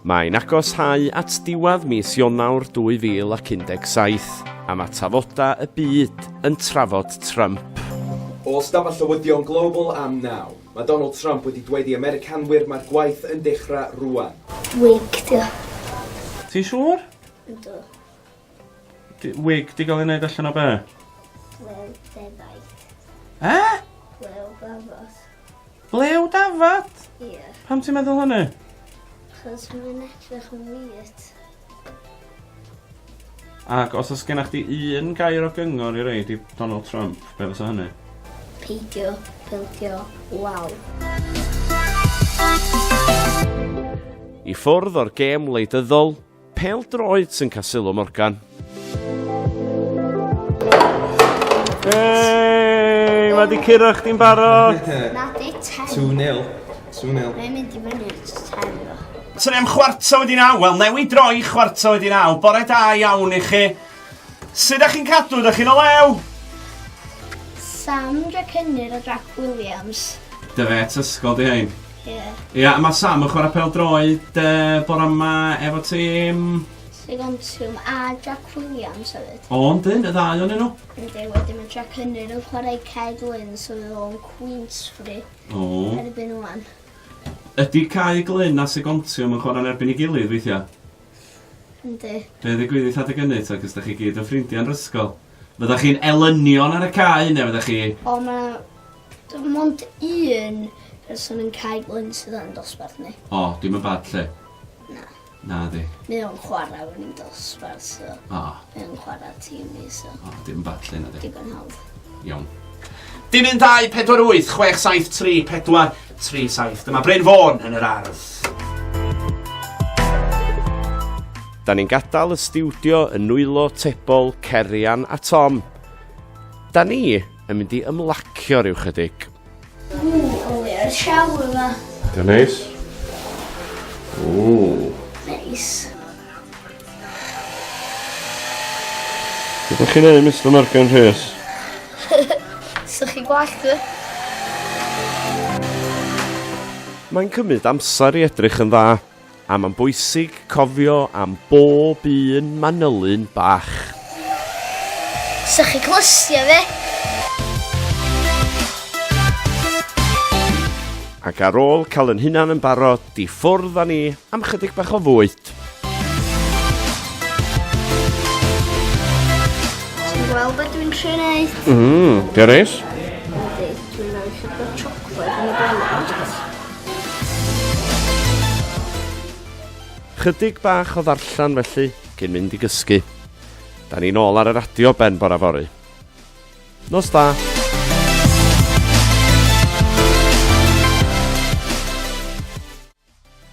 Mae'n agos hau at diwadd mis Ionawr 2017, a mae tafodau y byd yn trafod Trump. O ystafell llywyddion Global am naw, mae Donald Trump wedi dweud i Americanwyr mae'r gwaith yn dechrau rŵan. Wig 'di o. Ti'n siŵr? Yndw. Wig, di gael ei wneud allan o be? Blew defaid. E? Blew dafod. Blew dafod? Ie. Yeah. Pam ti'n meddwl hynny? Chos mae'n edrych yn weird. Ac os oes gennych chi un gair o gyngor i reid i Donald Trump, be fysa hynny? Peidio, peidio, waw. I ffwrdd o'r gêm wleidyddol, Pêl-droed sy'n cael sylw Morgan. Hey, mae di curo chdi'n barod. Na, di 10. 2-0. 2-0. Mae'n mynd i fyny at 10 o. Trem chwarta wedi naw. Wel, newi droi chwarta wedi naw. Bore da iawn i chi. Sut ydych chi'n cadw? Ydych chi'n o lew? Sam Jack Hynnyr a Jack Williams. Dy fe, tysgol di hein. Ie. Ie, a mae Sam yn chwarae pel droed uh, bore yma efo tîm... Sigontiwm a Jack Williams hefyd. O, yn dyn, y ddau o'n nhw? Ynddi, wedyn mae Jack Henry yn chwarae Ced Lynn, so fydd o'n Queensfree. O. Erbyn o'n. Ydy Cai Glyn a Sigontiwm yn chwarae'n erbyn i gilydd weithiau? Ynddi. Be ddigwyddith adeg ynny, ta, cys da chi gyd yn ffrindiau'n rysgol? Fyddech chi'n elynion ar y cae neu fyddech chi... O, mae dim ond un person yn Cae Glyn sydd yn dosbarth ni. O, dim yn bad lle? Na. Na di. Mae o'n chwarae yn un dosbarth, so... O. Mae o'n chwarae tîm ni, so... O, dim yn bad lle na di. Digon hawdd. Iawn. Dim un 2, 4, 8, 6, 7, 3, 4, 3, 7. Dyma Bryn Fôn yn yr ardd. Da ni'n gadael y stiwdio yn nwylo tebol Cerian a Tom. Da ni yn mynd i ymlacio rhyw chydig. Ww, o le yr siaw yma. Da neis. Ww. Neis. Ydych chi'n ei, Mr Morgan Rhys? Sych chi gwallt dwi? Mae'n cymryd amser i edrych yn dda. A mae'n bwysig cofio am bob un manylyn bach. Sa chi clystio fe? Ac ar ôl cael yn hunan yn barod, di ffwrdd â ni am chydig bach o fwyd. gweld beth dwi'n trio neud. Mmm, Dewis? Ydy, dwi'n rhoi llyfr chocolate yn y bennod. Chydig bach o ddarllen felly, cyn mynd i gysgu. Da ni'n ôl ar y radio ben bora fory. Nos da!